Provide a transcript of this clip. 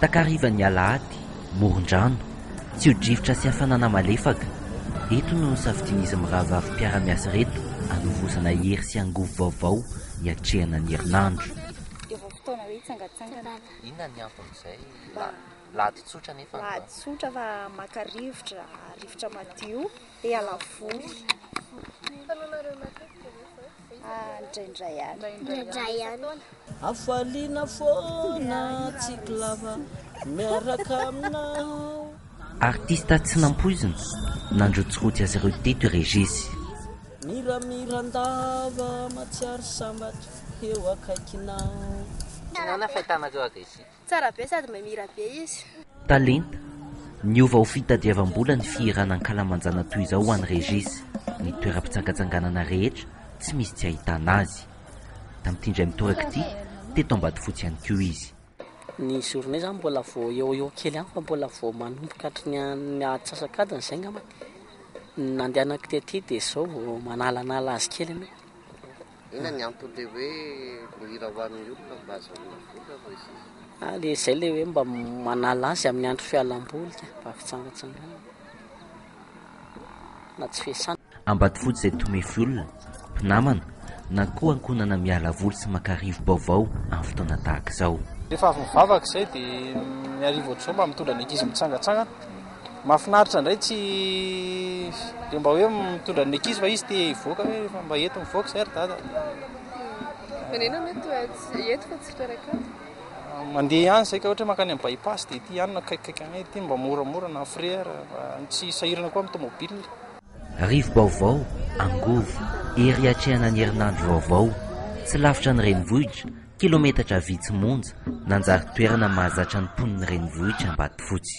Takarivan'ny alahady, moron-drano, tsio-drivotra sy hafanana malefaka, eto no nosafidian'izy mirahavavy mpiara-miasa ireto hanovozana hery sy angovo vaovao hiatrehana ny herinandro. Dia vao fotoana hoe hitsangantsangana. Inona ny anton'izay? Lahady tsotra nefa ny Lahady tsotra fa maka rivotra, rivotra madio, te hiala voly. Fanaonareo matetika ve izao? indraindray any. Hafaliana foana tsiky lava miaraka aminao. Artista tsy nampoizina, nandrotsirotsy azy ireo teto i Regis. Miramiran-dava matsiaro sambatra eo akaikinao. Inona no fahitana azy eo Regis? Tsara be sady mahay mihira be izy. Talenta, niova ho fitadiavam-bola ny fihirana ankalamanjana toy izao ho an'i Régis, ny toeram-pitsangantsanganana rehetra tsy misy tsy ahitana azy. Tamin'ity indray mitoraka ity, teto Ambatofotsy ihany koa izy. Ny journée zany mbola vao eo ho eo kely ihany fa mbola vao manomboka hatry ny ny antsasak'adiny izay ngambany ny nandehanako tety dia izao vao manalanala azy kely aloha. Inona ny antony le hoe mihira ho an'ny olona mba azahoana vola hoy izy. Ah, le izay le hoe mba manala azy amin'ny andro fialam-boly ka, mba fitsangatsanganana na tsy fiasana. Ambatofotsy izay tomefy olona, mpinamana na koa ankohonana miala voly sy maka rivo-baovao amin'ny fotoana tahaka izao. Rehefa avy mivavaka izay dia ny hariva ohatr'izao mba mitondra ny ankizy mitsangatsangana. Mahafinaritra indray tsy dia mba hoe mitondra ny mekizy fa izy te hivoaka hoe efa mba eto mivoaka izay ry dada. Venena mety eh, eto fa tsy fitoerana akato. Mandeha ihany izay ka ohatra mankany amin'ny bypass dia ity ihany no akaikikaiky anay ity mba moramora na frère mba tsy sahirana koa amin'ny tomobile. Rivo-baovao, Angovo, ery atrehanan'ny herinandro vaovao, tsy lavitra ny renivohitra, Kilometatra vitsy monja, nanjary toerana mahazatra ny mponin'ny renivohitr'Ambatofotsy.